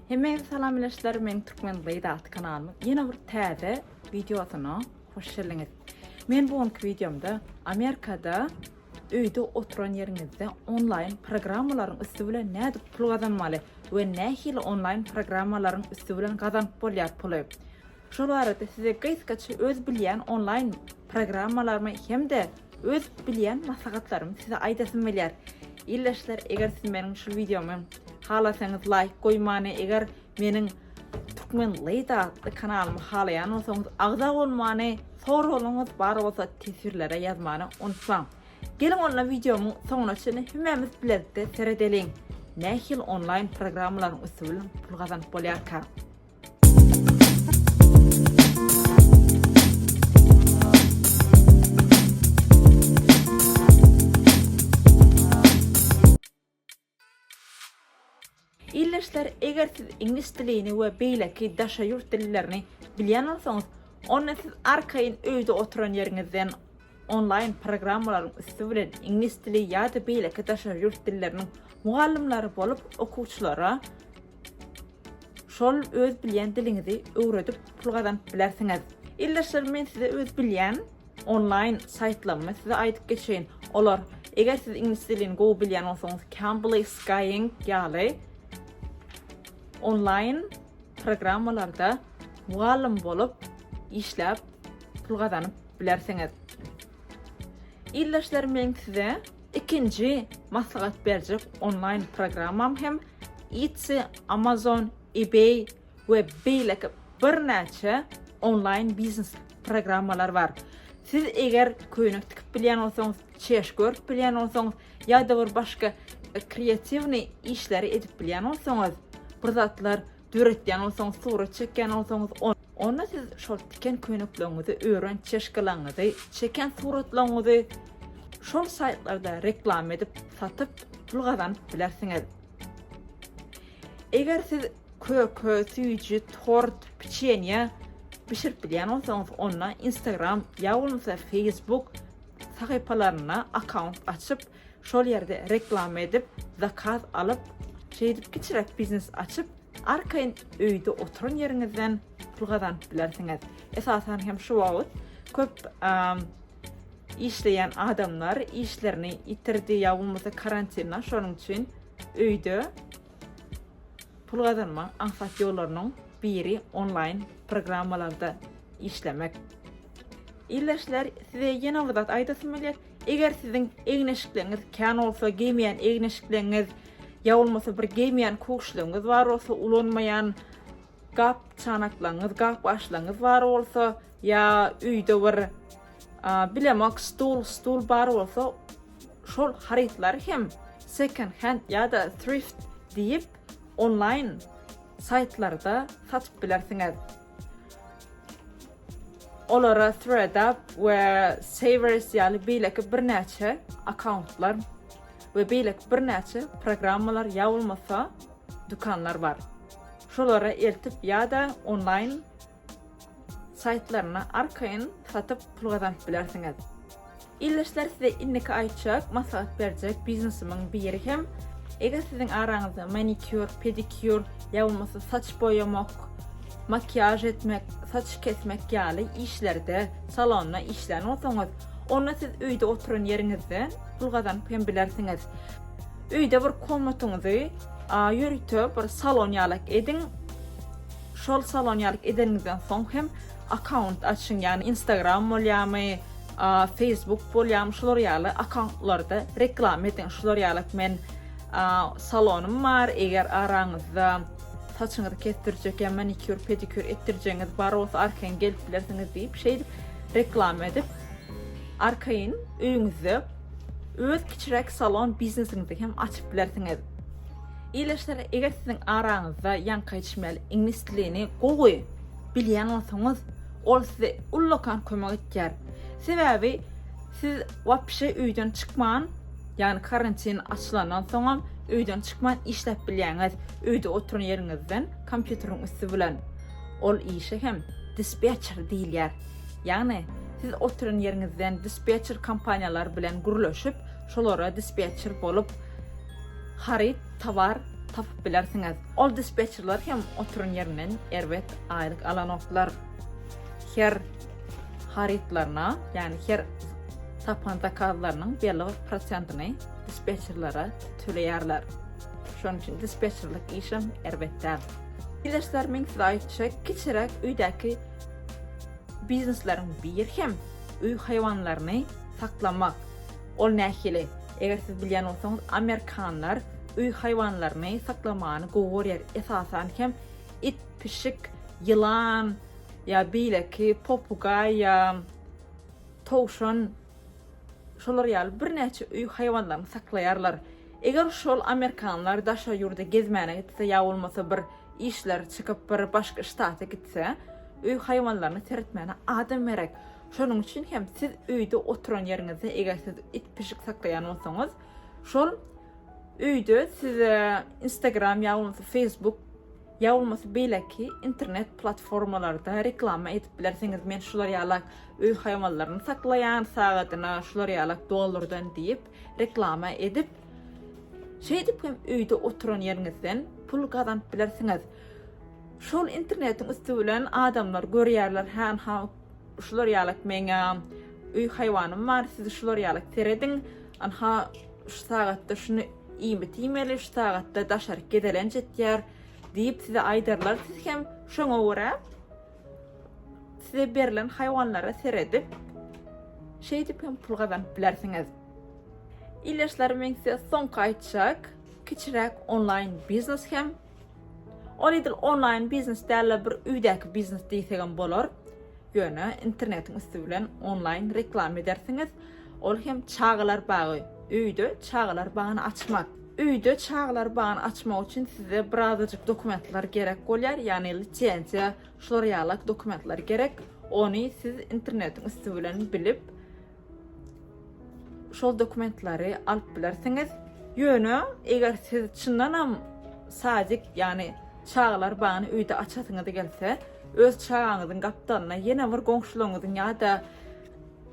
Hemmäňize salam bileşler, men Türkmen Gyz atly kanalymyň ýene bir täze wideosyna hoş geldiňiz. Men bu günki wideomda Amerikada öýde oturan ýeriňizde onlaýn programmalaryň üsti bilen nädip pul gazanmaly we nähili onlaýn programmalaryň üsti bilen gazanyp bolýar puly. Şol arada size gysgaça öz bilýän onlaýn programmalarymy hem-de öz bilýän maslahatlarymy size aýdasym gelýär. Ildeşler eger siz meniň şu wideomy halasaňyz laýk goýmany eger meniň Türkmen Lady atly kanalymy halaýan bolsaňyz agza bolmany soraglaryňyz bar bolsa teswirlere ýazmany unutmaň. Geliň onda wideomyň soňuna çenli hemmämiz bilelikde seredeliň. Nähili onlaýn programmalaryň üsti bilen pul gazanyp bolýarka. Ildeşler, eger siz iňlis dilini we beýleki daşary ýurt dillerini bilýän bolsaňyz, onda siz arkaýyn öýde oturan ýeriňizden onlaýn programmalaryň üsti bilen iňlis dili ýa-da beýleki daşary ýurt dilleriniň mugallymlary bolup okuwçylara Şol öz bilýän diliňizi öwredip pul gazanyp bilersiňiz. Ildeşlerim men size öz bilýän onlaýn saýtlarymy size aýdyp geçeýin. Olar eger siz iňlis dilini gowy bilýän bolsaňyz Cambly Skyeng ýaly onlaýn programmalarda mugallym bolup işläp pul gazanyp bilersiňiz. Ildeşlerim men size Ikinji maslahat berjek onlaýn programmam hem Etsy, Amazon, eBay we beýleki birnäçe onlaýn biznes programmalar bar. Siz eger köýnek tikip bilýän bolsaňyz, çeşme görüp bilýän bolsaňyz ýa-da bir başga kreatiwnyý işleri edip bilýän bolsaňyz, bir zatlar Döretýän bolsaňyz, surat çekýän bolsaňyz, onda siz şol tiken köýnekleriňizi, ören çeşkalaryňyzy, çeken suratlaryňyzy şol saýtlarda reklama edip, satyp, pul gazanyp bilersiňiz. Eger siz köke, süýji, tort, piçenýe bişirip bilýän bolsaňyz, onda Instagram ýa bolmasa Facebook sahypalarynda akkaunt açyp, Şol ýerde reklama edip, zakaz alyp, şeýdip kiçiräk biznes açyp, arkaýyn öýde oturan ýeriňizden pul gazanyp bilersiňiz. Esasan hem şu wagt köp işleýän adamlar işlerini ýitirdi ýa bolmasa karantindan şonuň üçin öýde pul gazanmaň aňsat ýollarynyň biri onlaýn programmalarda işlemek. Ildeşler, size ýene bir zat aýdasym gelýär. Eger siziň egin-eşikleňiz kän bolsa, geýmeýän egin-eşikleňiz ýa bolmasa bir geýmeýän köwşligiňiz bar bolsa, ulanmaýan gap çanaklaňyz, gap gaşlaňyz bar bolsa ýa öýde bir bilemok stul, stul bar bolsa, şol harytlary hem second hand ýa-da thrift diýip onlaýn saýtlarda satyp bilersiňiz. Olara ThreadUp we Savers ýaly beýleki birnäçe akkauntlar we beýleki birnäçe programmalar ýa bolmasa dükanlar bar. Şolara eltip ýa-da onlaýn saýtlaryna arkaýyn satyp pul gazanyp bilersiňiz. Ildeşler size indiki aýtjak, maslahat berjek biznesimiň biri hem, eger siziň araňyzda manikýur, pedikyur, ýa bolmasa saç boýamak, makiýaž etmek, saç kesmek ýaly işlerde, salonda işlän bolsaňyz, onda siz öýde oturan ýeriňizden pul gazanyp hem bilersiňiz. Öýde bir komnatyňyzy ýörite bir salon ýalak ediň. Şol salon ýalak edeniňizden soň hem akkaunt açyň, ýagny Instagram bolýamy, Facebook bolýamy şular ýaly akauntlarda reklama ediň şular ýaly men salonym bar eger araňyzda saçyňyzy kesdirjek ýa manikýur pedikýur etdirjegiňiz bar bolsa arkaýyn gelip bilersiňiz diýip şeýdip reklama edip arkaýyn öýüňizde öz kiçiräk salon biznesiňizi hem açyp bilersiňiz. Ileşler eger siziň araňyzda ýaňky içmeli iňlis dilini gowy bilýän bolsaňyz, ol size ullakan kömek etýär. Sebäbi siz wapşe öýden çykman, ýagny karantin açylandan soňam öýden çykman işläp bilýäňiz, öýde oturan ýeriňizden kompýuteriň üsti bilen. Ol işe hem dispetçer diýilýär. Ýagny siz oturan ýeriňizden dispetçer kompaniýalar bilen gürleşip, şolara dispetçer bolup, Haryt, towar, tapyp bilersiňiz. Ol dispetçerler hem oturan ýerinden erbet aýlyk alanoklar. Her harytlaryna, ýagny her tapan zakazlarynyň belli bir prosentini dispetçerlere töleýärler. Şonuň üçin dispetçerlik işem erbet däl. Bilersizler, men size aýtjak, kiçiräk öýdäki biznesleriň biri hem öý haýwanlaryny saklamak. Ol nähili? Eger siz bilýän bolsaňyz, amerikanlar öý haýwanlaryny saklamany gowy görýär, esasan hem it, pişik, ýylan ýa beýleki popugaý ýa towşan şolar ýaly birnäçe öý haýwanlaryny saklaýarlar. Eger şol amerikanlar daşary ýurda gezmäne gitse ýa bolmasa bir işleri çykyp bir başga ştata gitse, öý haýwanlaryny seretmäne adam gerek. Şonuň üçin hem siz öýde oturan ýeriňizde eger siz it pişik saklaýan bolsaňyz, şol öýde size Instagram ýa bolmasa Facebook ýa bolmasa beýleki internet platformalarda reklama edip bilersiňiz. Men şular ýaly öý haýwanlaryny saklaýan, sagadyna şular ýaly dollardan diýip reklama edip Şeýdip hem öýde oturan ýeriňizden pul gazanyp bilersiňiz. Şol internetiň üsti bilen adamlar görýärler, hä, Şular ýalak meň öý haýwanym bar siz şular ýalak serediň ynha şu sagatda şuny iýmit iýmeli şu sagatda daşaryk gezelenç etýär diýip size aýdarlar siz hem şoňa görä size berlen haýwanlara seredip şeýdip hem pul gazanyp bilersiňiz Ildeşlerim men size soňky aýtjak kiçiräk onlaýn biznes hem Ol edil onlaýn biznes däl-de, bir öýdäki biznes diýsegem bolar. Ýöne internetiň üsti bilen onlaýn reklama edersiňiz. Ol hem çagalar bagy. Öýde çagalar bagyny açmak. Öýde çagalar bagyny açmak üçin size birazajyk dokumentler gerek bolýar, ýagny lisenziýa, şular ýalak dokumentler gerek. Ony siz internetiň üsti bilen bilip, şol dokumentleri alyp bilersiňiz. Ýöne eger siz çyndanam sadik, ýagny çagalar bagyny öýde açasyňyz gelse, öz çagaňyzyň gapdalyna ýene bir goňşularyňyzyň ýa-da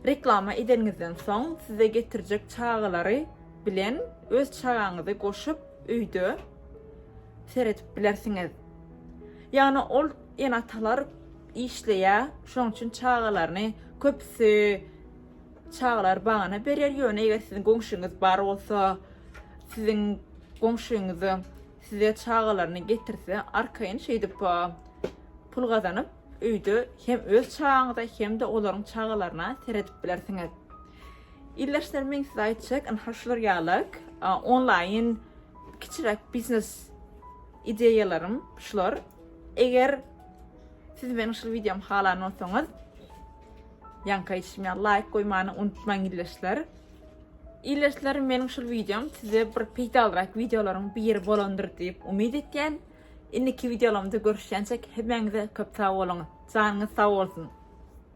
reklama edeniňizden soň size getirjek çagalary bilen öz çagaňyzy goşup öýde seredip bilersiňiz. Ýagny ol ene-atalar işleýä şoň üçin çagalaryny köpüsi çagalar bagana berer ýöne eger siziň goňşyňyz bar bolsa siziň goňşyňyzy size çagalaryny getirse arkaýyn şeýdip pul gazanyp öýde hem öz çagaňyza hem de olaryň çagalaryna seredip bilersiňiz Ildeşler men size aýtjak ynha şular ýaly onlaýyn kiçiräk biznes ideýalarym şular eger Siz meniň şul videomy halan bolsaňyz, ýaňka işime laýk goýmany unutmaň illeşler. Illeşler meniň şul videom size bir peýdalyrak videolaryň biri bolandyr diýip umyt etýän. Indiki videolarymda görüşýänçek hemmäňize köp sag boluň. Janyňyz sag bolsun.